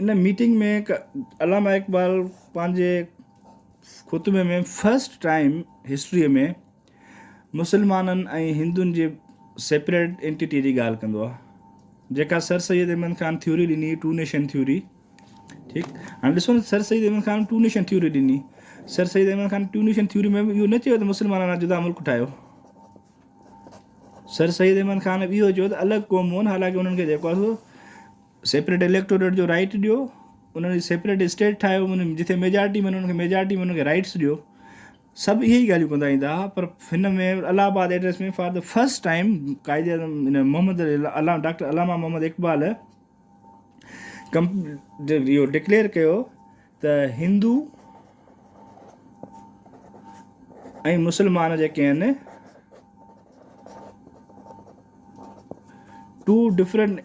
ان meeting ۾ Allama Iqbal پنهنجي خطبي ۾ first time history ۾ مسلمانن ۽ هندن جي سيپريٽ انٽيٽي جي ڳالهه ڪندو آهي جيڪا سر سيد احمد خان ٿيوري ڏني ٽو نيشن ٿيوري ٺيڪ هاڻي ڏسو نه sir Syed Ahmad Khan two nation theory ڏني sir Syed Ahmad Khan two nation theory ۾ به اهو نه چيو ته مسلمانن لاء جدا ملڪ ٺاهيو سر سيد احمد خان به اهو چيو ته الڳ قومون حالانڪه انهن کي جيڪو سيپريٽ اليڪٽوريٽ جو رائيٽ ڏيو انهن کي سيپريٽ اسٽيٽ ٺاهيو انهن جي جتي ميجارٽي ملي انهن کي ميجارٽي ملي انهن کي رائيٽس ڏيو سڀ اهي ئي ڳالهيون ڪندا ايندا ها پر هن ۾ Allahabad address ۾ for the first time Quaid Azam هن محمد علامه ڊاڪٽر علامه محمد اقبال ڪم اهو ڊڪليئر ڪيو ته هندو ۽ مسلمان جيڪي آهن ٽو ڊفرنٽ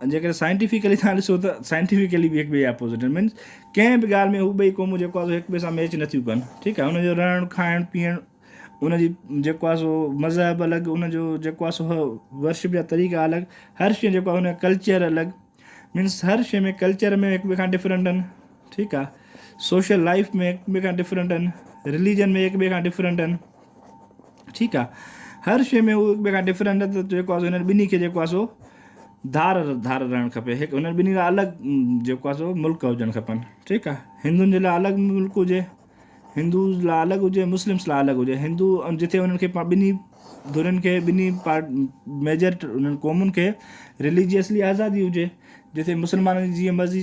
جيڪڏهن سائنٽيفڪلي توهان ڏسو ته سائنٽيفڪلي به هڪٻئي جي اپوزٽ آهن مينس ڪنهن به ڳالهه ۾ هو ٻئي قومون جيڪو آهي سو هڪٻئي سان ميچ نٿيون ڪن ٺيڪ آهي ان جو رهڻ کائڻ پيئڻ ان جي جيڪو آهي سو مذهب الڳ ان جو جيڪو آهي سو ورشپ جا طريقا الڳ هر شيء جيڪو آهي ان ڪلچر الڳ مينس هر شيء ۾ ڪلچر ۾ هڪ ٻئي کان ڊفرنٽ آهن ٺيڪ آهي سوشل لائف ۾ هڪ ٻئي کان ڊفرنٽ آهن رليجن ۾ هڪ ٻئي کان ڊفرنٽ آهن ٺيڪ آ ھر شئي ۾ ھو ھڪ ٻئي کان ڊفرنٽ نه ته جيڪو آ سو ھنن ٻنھي کي جيڪو آ سو ڌار ڌار رھڻ کپي ھڪ ھنن ٻنھي لاء الڳ جيڪو آ سو ملڪ ھجڻ کپن ٺيڪ آ ھندن جي لاء الڳ ملڪ ھجي ھندوز لاء الڳ ھجي مسلمس لاء الڳ ھجي ھندو جتي ھنن کي ٻنھي ڌرين کي ٻنھي پار ميجر ھنن قومن کي رليجيسلي آزادي ھجي جتي مسلمانن جي جيئن مرضي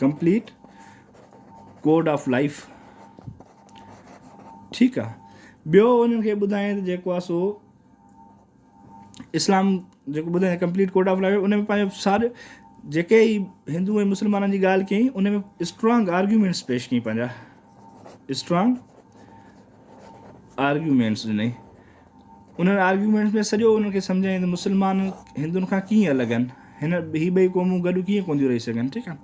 ڪمپليٽ ڪوڊ آف لائف ٺيڪ آ ٻيو انهن کي ٻڌائين ته جيڪو آ سو اسلام جيڪو ٻڌائين ڪمپليٽ ڪوڊ آف لائف ان ۾ پنهنجو ساري جيڪي ئي هندو ۽ مسلمانن جي ڳالهه ڪيائين ان ۾ اسٽرانگ آرگيومينٽس پيش ڪيائين پنهنجا اسٽرانگ آرگيومينٽس ڏني انهن آرگيومينٽس ۾ سڄو انهن کي سمجهايائين ته مسلمان هندن کان ڪيئن الڳ آهن هن هي ٻئي قومون گڏ ڪيئن ڪون ٿيون رهي سگهن ٺيڪ آهي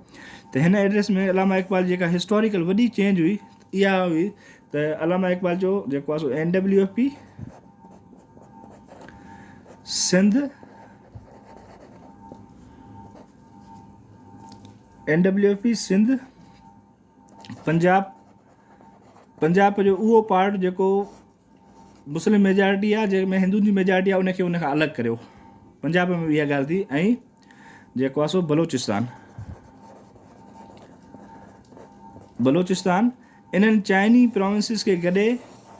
ته هن ايڊريس ۾ علامه اقبال جيڪا هسٽوريڪل وڏي چينج هئي اها هئي ته علامه اقبال جو جيڪو آهي سو N W F P Sindh N W F P Sindh Punjab Punjab جو اهو پارٽ جيڪو مسلم ميجارٽي آ جنهن ۾ هندن جي ميجارٽي آ ان کي ان کان الڳ ڪريو پنجاب ۾ به اها ڳالهه ٿي ۽ جيڪو آ سو بلوچستان بلوچستان انهن چائني پراونسز کي گڏي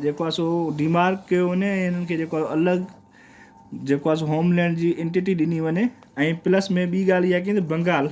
جيڪو آ سو ڊيمارڪ ڪيو وڃي ۽ انهن کي جيڪو الڳ جيڪو آ سو هوم لينڊ جي انٽيٽي ڏني وڃي ۽ پلس ۾ ٻي ڳالهه اها ڪي ته بنگال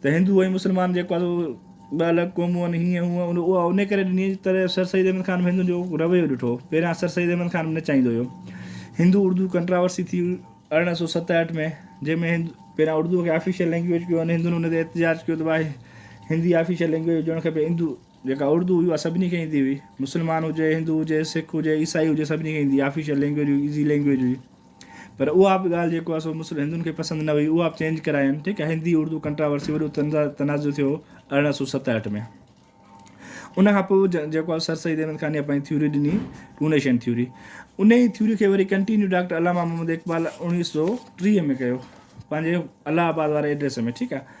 ته هندو ۽ مسلمان جيڪو آهي سو ٻه الڳ قومون آهن هيئن هونئن اها ان ڪري ڏني جنهن طرح سر سيد احمد خان به هندن جو رويو ڏٺو پهريان سر سيد احمد خان به نچائيندو هيو هندو اردو ڪنٽراورسي ٿي ارڙهن سو ستهٺ ۾ جنهن ۾ هند پهريان اردو کي آفيشل لينگويج ڪيو ان هندن ان تي احتجاج ڪيو ته ڀائي هندي آفيشل لينگويج هجڻ کپي هندو جيڪا اردو هئي اها سڀني کي ايندي هئي مسلمان هجي هندو هجي سک هجي عيسائي هجي سڀني کي ايندي آفيشل لينگويج هئي ايزي لينگويج هئي پر اها به ڳالهه جيڪو آهي سو هندن کي پسند نه هئي اها به چينج ڪراين ٺيڪ آهي هندي اردو ڪنٽراورسي وڏو تنازع ٿيو ارڙهن سو ست هٺ ۾ ان کان پوء جيڪو آهي سر سيد احمد خانيء پنهنجي ٿيوري ڏني ٽونيشن ٿيوري ان ئي ٿيوري کي وري ڪنٽينيو ڊاڪٽر علامه محمد اقبال اوڻيهه سو ٽيهه ۾ ڪيو پنهنجي الهه آباد واري ايڊريس ۾ ٺيڪ آهي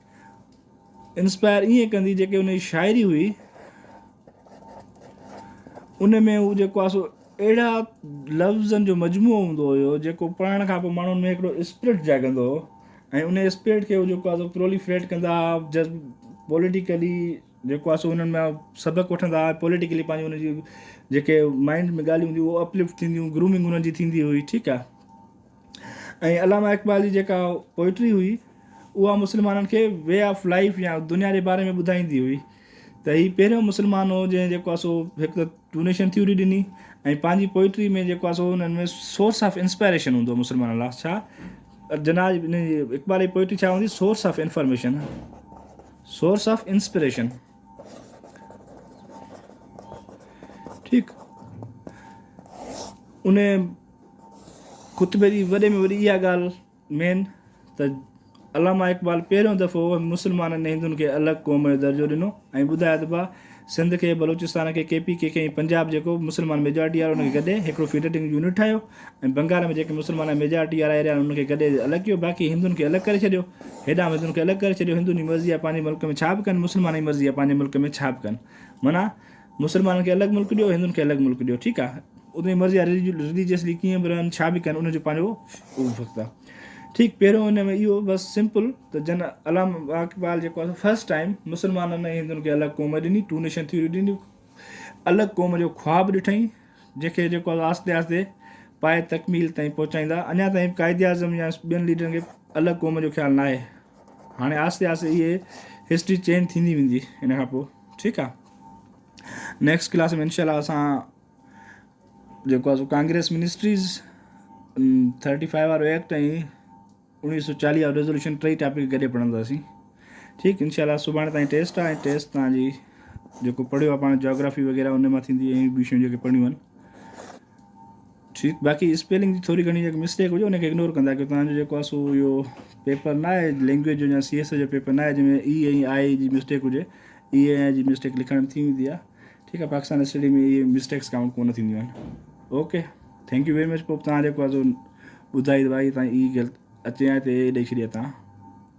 انسپائر ائين ڪندي جيڪي ان جي شاعري هئي ان ۾ هو جيڪو آهي سو اهڙا لفظن جو مجموعو هوندو هيو جيڪو پڙهڻ کان پوء ماڻهن ۾ هڪڙو اسپرٽ جاڳندو هو ۽ ان اسپرٽ کي هو جيڪو آهي سو پروليفريٽ ڪندا هئا جذب پوليٽيڪلي جيڪو آهي سو انهن مان سبق وٺندا هئا پوليٽيڪلي پنهنجي ان جي جيڪي مائنڊ ۾ ڳالهيون هونديون هو اپلفٽ ٿينديون گرومنگ انهن جي ٿيندي هئي ٺيڪ آهي ۽ علامه اقبال جي جيڪا پوئٽري هئي اها مسلمانن کي وي آف لائف يا دنيا جي باري ۾ ٻڌائيندي هئي ته هي پهريون مسلمان هو جنهن جيڪو آهي سو هڪ ته ڊونيشن ٿيوري ڏني ۽ پنهنجي پوئٽري ۾ جيڪو آهي سو انهن ۾ سورس آف انسپائريشن هوندو مسلمانن لاء ڇا جناح جي اقبال جي پوئٽري ڇا هوندي source of information source of inspiration ٺيڪ ان خطبي جي وڏي ۾ وڏي اها ڳالهه مين ته علامه اقبال پهريون دفعو مسلمانن ۽ هندن کي الڳ قوم جو درجو ڏنو ۽ ٻڌايو ته ڀا سنڌ کي بلوچستان کي ڪي پي ڪي کي ۽ پنجاب جيڪو مسلمان ميجارٽي وارو ان کي گڏي هڪڙو فيڊرٽنگ يونٽ ٺاهيو ۽ بنگال ۾ جيڪي مسلمان ميجارٽي وارا ايريا آهن ان کي گڏي الڳ ڪيو باقي هندن کي الڳ ڪري ڇڏيو هيڏانهن به هندن کي الڳ ڪري ڇڏيو هندن جي مرضي آهي پنهنجي ملڪ ۾ ڇا به ڪن مسلمانن جي مرضي آهي پنهنجي ملڪ ۾ ڇا به ڪن معنيٰ مسلمانن کي الڳ ملڪ ڏيو هندن کي الڳ ملڪ ڏيو ٺيڪ آهي ان جي مرضي آهي رليجيسلي ڪيئن به رهن ڇا به ڪن ان جو پنهنجو اهو وقت آهي ٺيڪ پهريون ان ۾ اهو بس سمپل ته جن علام اقبال جيڪو آهي فرسٽ ٽائم مسلمانن ۽ هندن کي الڳ قوم ڏني ٽو نيشن ٿيوري ڏني الڳ قوم جو خواب ڏٺائين جيڪي جيڪو آهي آهستي آهستي پائي تڪميل تائين پهچائيندا اڃا تائين قائد اعظم يا ٻين ليڊرن کي الڳ قوم جو خيال ناهي هاڻي آهستي آهستي اهي هسٽري چينج ٿيندي ويندي ان کان پوء ٺيڪ آ نيڪسٽ ڪلاس ۾ انشاء الله اسان جيڪو آ ڪانگريس منسٽريز ٿرٽي فائيو وارو ايڪٽ ۽ انيس سو چاليهه وارو ريزولوشن ٽئي ٽاپڪ گڏي پڙهنداسين ٺيڪ انشاء الله سڀاڻي تائين ٽيسٽ آ ٽيسٽ تان جي جيڪو پڙهيو آ پاڻ جاگرافي وغيره ان مان ٿيندي ۽ ٻيون شيون جيڪي پڙهيون آهن ٺيڪ باقي اسپيلنگ جي ٿوري گهڻي جيڪا مسٽيڪ هجي ان کي اگنور ڪندا ڪيو تنهنجو جيڪو آهي سو اهو پيپر نه آهي لينگويج جو يا سي ايس اي جو پيپر نه آهي جنهن ۾ اي ۽ آء جي مسٽيڪ هجي اي ۽ آء جي مسٽيڪ لکڻ ٿي ويندي آهي ٺيڪ آهي پاڪستان اسٽڊي ۾ اهي مسٽيڪس ڪائونٽ ڪونه ٿينديون آهن okay thank you very much پوء بتان جيڪو آهي سو ٻڌائي دبائي تان اي غلط اچي آئي ته اي ڏئي ڇڏي تان